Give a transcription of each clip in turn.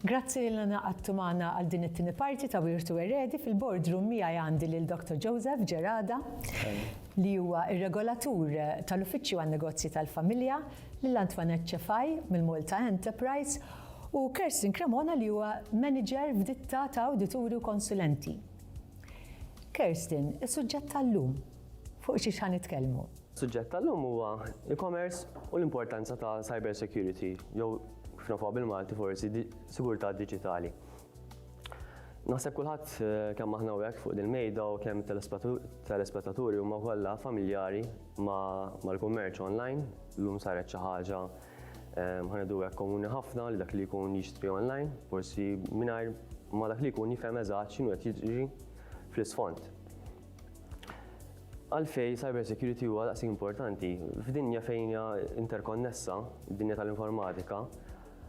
Grazzi lil Anna Qattu magħna għal din it-tieni parti ta' Wirtu Eredi fil-boardroom miegħi għandi lil Dr. Joseph Gerada li huwa r-regolatur tal-Uffiċċju għan-Negozji tal-Familja, lil Antoinette Cefai mill-Malta Enterprise u Kerstin Cremona li huwa manager f'ditta ta' awdituri u konsulenti. Kerstin, is-suġġett tal-lum fuq xiex ħa nitkellmu? Suġġett tal-lum huwa e-commerce u l-importanza ta' cyber security, jew kif nafuha bil-Malti forsi sigurtà diġitali. Naħseb kulħadd eh, kemm aħna hekk fuq dil-mejda u kemm telespettaturi huma kollha familjari mal-kummerċ online, llum saret xi ħaġa eh, ħanedu hekk komuni ħafna li dak li jkun jixtri online, forsi mingħajr ma dak li jkun jifhem eżatt x'inhu qed jiġri fl-isfond. Għalfej cyber security huwa daqsi importanti. F'dinja fejn hija interkonnessa, dinja tal-informatika,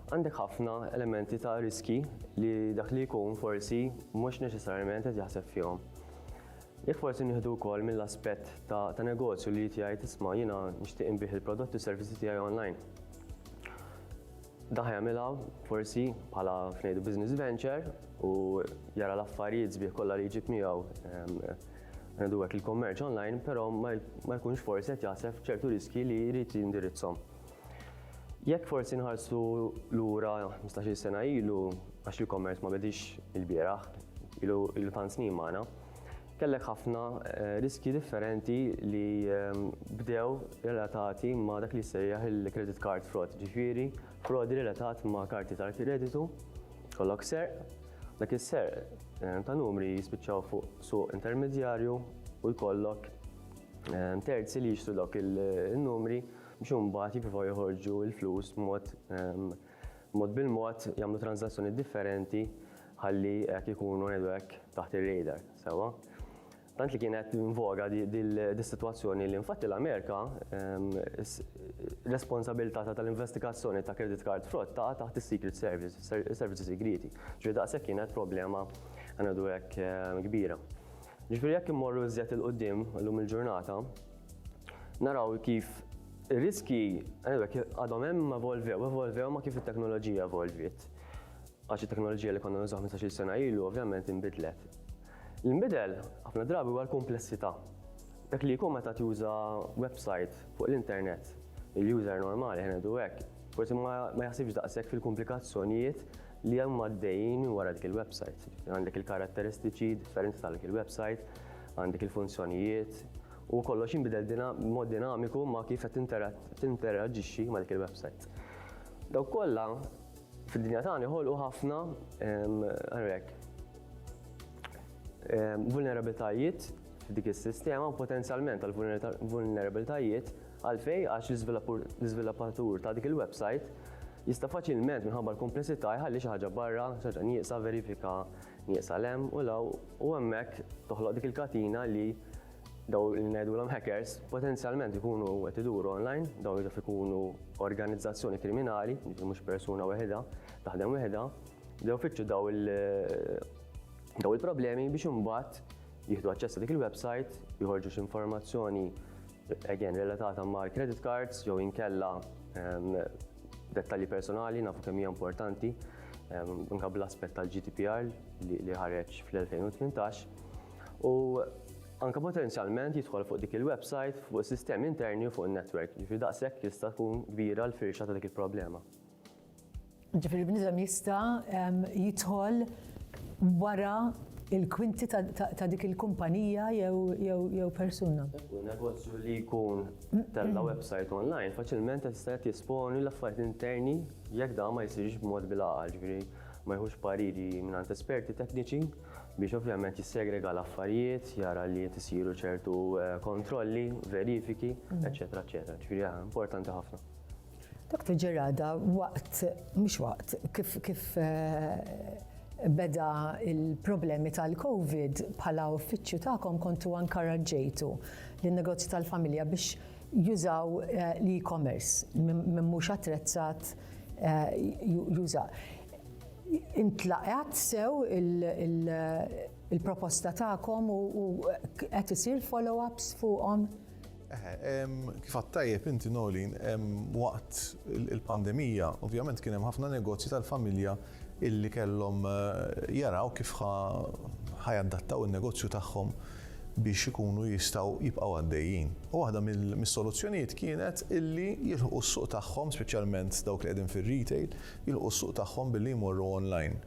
għandek ħafna elementi ta' riski li dak li jkun forsi mhux neċessarjament qed jaħseb fihom. Jekk forsi nieħdu wkoll mill-aspett ta', ta negozju li jgħid isma' jiena nixtieq inbih il-prodotti u servizzi tiegħi online. Dan ħa jagħmilha forsi bħala f'ngħidu business venture u jara l-affarijiet sbieħ kollha li jġib miegħu ngħidu hekk il-kummerċ online, però ma jkunx forsi qed jaħseb ċertu riskji li jrid jindirizzhom. Jekk forsi nħarsu lura 15-il sena ilu għax l-e-commerce ma bedix il-bieraħ, ilu tant snin magħna, kellek ħafna eh, riski differenti li ehm, bdew relatati ma' dak li sejjaħ il-credit card fraud, ġifiri frodi relatat ma' karti tal-kreditu, kollok ser, dak is-ser eh, ta' numri jispiċċaw fuq suq intermedjarju u jkollok eh, terzi li jixtu dawk il-numri biex imbagħad jippruvaw joħorġu l-flus b'mod ehm, mod bil-mod jagħmlu tranżazzjonijiet differenti ħalli hekk ikunu ngħidu hekk taħt ir-radar, sewwa. Tant li kienet invoga dis-sitwazzjoni li infatti l-Amerika responsabilità ta' tal-investigazzjoni ta' credit card fraud taqa' taħt is-Secret Service, is-servizzi sigrieti. Ġifieri daqshekk kienet problema ngħidu hekk kbira. Ġifieri jekk immorru iżjed 'il quddiem illum il-ġurnata, naraw kif ir-riski għadhom hemm evolvew, evolvew ma kif it-teknoloġija evolviet. Għax it-teknoloġija li konna nużaw 15-il sena ilu ovvjament inbidlet. L-inbidel ħafna drabi huwa l-kumplessità. Dak li jkun meta tuża website fuq l-internet, il-user normali ħena du hekk, forsi ma jaħsibx daqshekk fil-komplikazzjonijiet li hemm għaddejjin wara dik il-website. Għandek il-karatteristiċi differenti tal-dik il-website, għandek il-funzjonijiet u kollox jinbidel mod dinamiku ma' kif qed tinteraġixxi ma' dik il-website. Daw kollha fid-dinja tagħna ħolqu ħafna għarrek vulnerabilitajiet f'dik is-sistema u potenzjalment għal vulnerabilitajiet għalfej għax l-iżviluppatur ta' dik il-website jista' faċilment minħabba l-komplessità jħalli xi ħaġa barra, xi ħaġa nieqsa verifika nieqsa 'l hemm u 'l hawn u hemmhekk toħloq dik il-katina li dawn li ngħidulhom hackers potenzjalment ikunu qed iduru online, dawn jaf ikunu organizzazzjoni kriminali, jiġifieri mhux persuna weħidha, taħdem weħidha, bdew fittxu daw il-problemi biex imbagħad jieħdu aċċess dik il-website, joħorġu x'informazzjoni again relatata mal credit cards jew inkella ehm, dettalji personali nafu kemm hija importanti ehm, anke bl-aspett tal-GDPR li ħareġ fl-2018 u anke potenzjalment jidħol fuq dik il-website fuq sistemi interni u fuq in-netwerk, jiġifieri daqshekk jista' tkun kbira l-firxa ta' dik il-problema. Ġifieri bniedem jista' jidħol wara il-kwinti ta' dik il-kumpanija jew persuna. U negozju li jkun tella' website online faċilment jista' qed jesponi l-affarijiet interni jekk dan ma jsirx b'mod bil-għaqal, ġifieri ma jieħux pariri mingħand esperti tekniċi biex ovvjament jissegrega l-affarijiet, jara li qed isiru ċertu kontrolli, verifiki, eċċetera, eċċetera. Ġifieri importanti ħafna. Dr. Gerada, waqt, mhux waqt, kif, kif eh, beda il-problemi tal-Covid bħala uffiċċju tagħkom kontu ankaraġġejtu lin negozju tal-familja biex jużaw eh, l-e-commerce minn mhux attrezzat eh, juża. Intlaqat sew il-proposta tagħkom u qed isir follow-ups fuqhom? Kif għad tajjeb inti Nolin, waqt il-pandemija, ovvjament kien hemm ħafna negozji tal-familja illi kellhom eh, jaraw kif ħajadattaw in-negozju tagħhom biex ikunu jistgħu jibqgħu għaddejjin. U waħda mis-soluzzjonijiet kienet illi jilħu s-suq tagħhom, speċjalment dawk li qegħdin fir-retail, jilħu s-suq tagħhom billi jmorru online.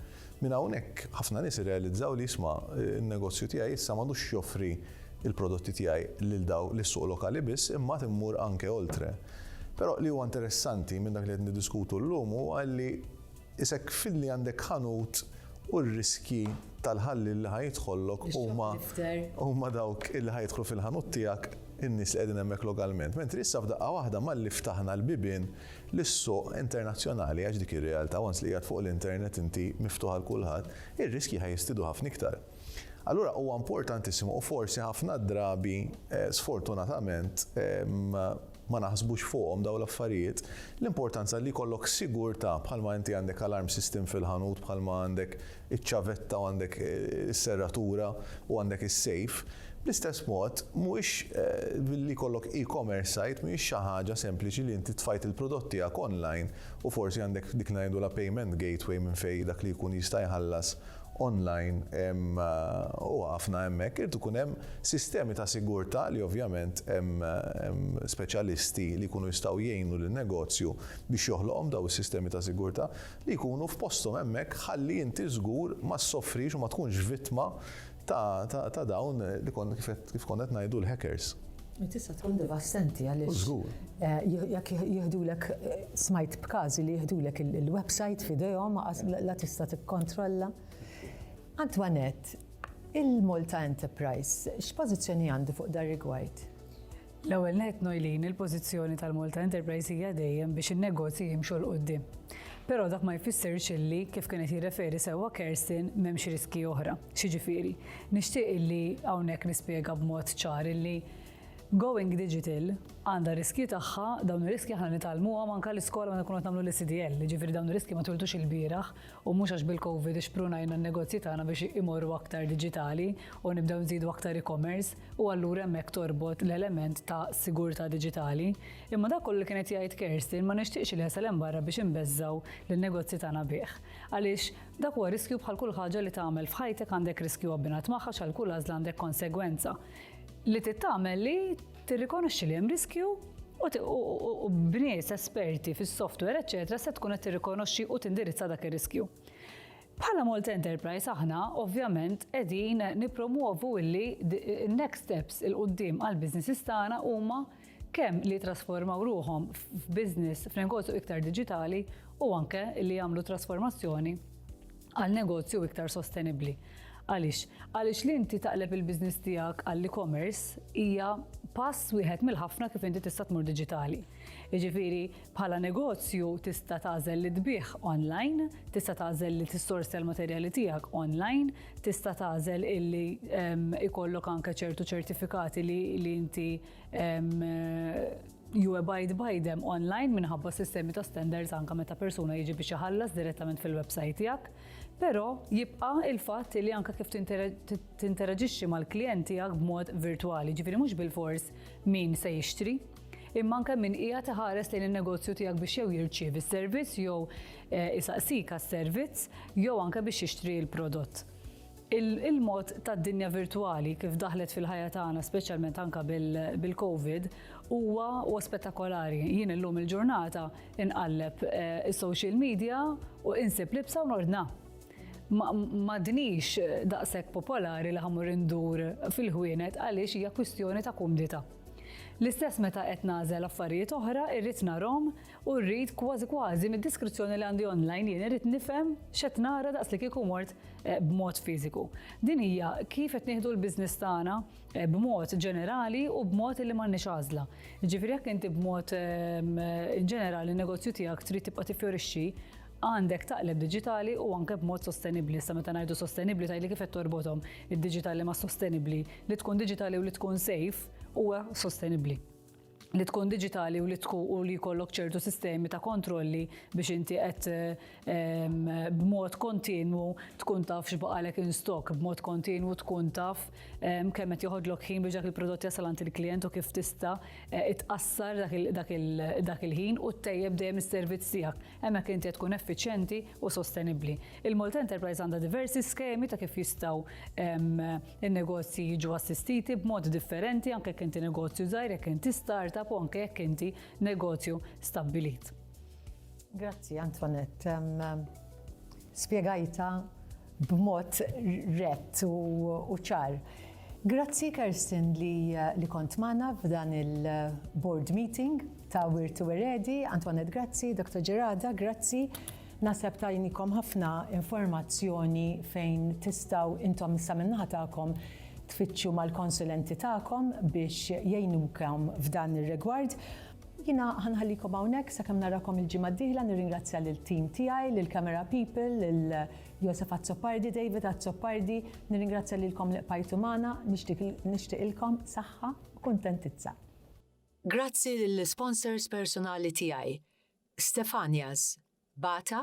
Minn hawnhekk, ħafna nies irrealizzaw li, isma', in-negozju tiegħi issa m'għadux joffri l-prodotti tiegħi lil daw lis-suq lokali biss imma għad immur anke oltre. Però li huwa interessanti minn dak li qed niddiskutu llum huwa li isek filli għandek ħanut u r-riskji tal-ħalliel li ħa jidħollok huma huma dawk li ħa jidħlu fil-ħanut tiegħek in-nies li qegħdin hemmhekk lokalment. Mentri issa f'daqqa waħda malli ftaħna l-bibien, lis-suq internazzjonali għax dik ir-realtà once li qiegħed fuq l-internet inti miftuħ għal kulħadd, ir-riskji ħa jistidu ħafna iktar. Allura huwa importantissimu u forsi ħafna drabi sfortunatament ma naħsbux fuqhom dawn l-affarijiet, l-importanza li jkollok sigurtà bħalma inti għandek alarm system fil-ħanut bħalma għandek iċ-ċavetta u għandek is-serratura u għandek is-sejf, bl-istess mod mhuwiex billi jkollok e-commerce site mhijiex xi ħaġa sempliċi li inti tfajt il-prodott tiegħek online u forsi għandek dik li ngħidulha payment gateway minn fejn dak li jkun jista' jħallas online u ħafna hemmhekk irid ikun hemm sistemi ta' sigurtà li ovvjament hemm speċjalisti li jkunu jistgħu jgħinu lin-negozju biex joħloqhom dawn is-sistemi ta' sigurtà. li jkunu f'posthom hemmhekk ħalli inti żgur ma ssofrix u ma tkunx vittma ta' ta' dawn li kont kif konna qed ngħidu l-hackers. Tista' tkun devastenti għaliex. Żgur. Eh, jekk jihdulek eh, smajt b'każi li jihdulek il-website f'idejhom la tista' tikkontrolla. Antoinette, il-Malta Enterprise, x'pożizzjoni għandu fuq dar rigward? L-ewwel nett Noylene, il-pożizzjoni tal-Malta Enterprise hija dejjem biex in-negozji jimxu 'l quddiem. Però dak ma jfissirx illi, kif kienet jirreferi sewwa Kerstin, m'hemmx riskji oħra. X'jiġifieri? Nixtieq illi hawnhekk nispjega b'mod ċar illi going digital għandha riskji tagħha, dawn ir-riskji aħna nitgħallmuhom anke l-iskola meta nkunu qed nagħmlu l-ECDL, jiġifieri dawn ir-riskji ma twilidux ilbieraħ u mhux għax bil-COVID ixprunajna n-negozji tagħna biex imorru aktar diġitali u nibdew nżidu aktar e-commerce. u allura hemmhekk torbot l-element ta' sigurtà diġitali, imma dak kollu li kien qed jgħid Kerstin ma nixtieqx li jasal hemm barra biex inbeżżgħu lin-negozji tagħna bih. Għaliex, dak huwa riskju bħal kull ħaġa li tagħmel f'ħajtek għandek riskju abbinat magħha għax għal kull għażla għandek konsegwenza. Li trid tagħmel li tirrikonoxxi li hemm riskju u b'nies esperti fis-software eċċetera se tkun qed tirrikonoxxi u tindirizza dak ir-riskju. Bħala Malta Enterprise aħna ovvjament qegħdin nippromwovu illi next steps il qudiem għal businesses tagħna huma kemm li jitrasformaw ruħhom f'business f'negozju iktar diġitali u anke li jagħmlu trasformazzjoni għal negozju iktar sostenibbli. Għaliex? Għaliex li inti taqleb il-business tiegħek għall-e-commerce hija pass wieħed mill-ħafna kif inti tista' tmur diġitali. Jiġifieri Bħala negozju tista' tagħżel li tbigħ online, tista' tagħżel li tissorsja l-materjali tiegħek online, tista' tagħżel illi ikollok anke ċertu ċertifikati li inti you abide by them online minħabba sistemi ta' standards anka meta persuna jiġi biex iħallas direttament fil-website tiegħek, però jibqa' il-fatt li anka kif tinteraġixxi mal-klijent tiegħek b'mod virtwali, ġifieri mhux bil-fors min se jixtri, imma anke min qiegħed iħares lejn in-negozju tiegħek biex jew jirċievi s-servizz jew eh, isaqsik għas-servizz jew anke biex jixtri l-prodott. Il-mod tad-dinja virtuali kif daħlet fil-ħajja tagħna, speċjalment anke bil-COVID, huwa u spettakolari. Jien illum il-ġurnata inqalleb eh, is-social media u insib libsa u nordna madnix daqshekk popolari li ħamur indur fil-ħwienet għaliex hija kwistjoni ta' kumdita. L-istess meta qed nagħżel affarijiet oħra irrid narhom u rrid kważi kważi mid-diskrizzjoni li għandi online jien irrid nifhem x'qed nara daqs li kieku mort eh, b'mod fiżiku. Din hija kif qed nieħdu l-biżniss tagħna eh, b'mod ġenerali u b'mod li m'għandniex għażla. Ġifieri jekk inti b'mod ehm, ġenerali n-negozju tiegħek trid tibqa' tiffjorixxi, Għandek taqleb diġitali u anke b'mod sostenibbli. Sa meta ngħidu sostenibbli tgħidli kif qed torbothom id-diġitali ma' sostenibbli. Li tkun diġitali u li tkun safe huwa sostenibbli li tkun digitali u li tkun u li jkollok ċertu sistemi ta' kontrolli biex inti qed ehm, b'mod kontinwu tkun taf x'baqalek in stock, b'mod kontinwu tkun taf ehm, kemm qed joħodlok ħin biex dak il-prodott jasal għand il-klijent u kif tista' eh, itqassar dak il-ħin u ttejjeb dejjem is-servizz tiegħek. Hemmhekk inti qed tkun effiċjenti u sostenibbli. Il-Malta Enterprise għandha diversi skemi ta' kif jistgħu n-negozji jiġu assistiti b'mod differenti anke jekk inti negozju żgħir, jekk inti startup u anke jekk inti negozju stabbilit. Grazzi Antoinette. Spjegajtha b'mod rett u ċar. Grazzi Kerstin li kont magħna f'dan il-board meeting ta' Wirt u Eredi, Antoinette grazzi, Dr. Gerada grazzi. Naħseb tajnikom ħafna informazzjoni fejn tistgħu intom issa min-naħa tagħkom tfittxu mal-konsulenti tagħkom biex jgħinukom f'dan ir-rigward. Jiena ħa nħallikom hawnhekk sakemm narakom il-ġimgħa d-dieħla nirringrazzja lill-tim tiegħi, lill-camera people, lil Josef Azzopardi, David Azzopardi, nirringrazzja lilkom li bqajtu magħna, nixtieqilkom saħħa u kuntentizza. Grazzi lill-isponsors personali tiegħi, Stefania's, Bata,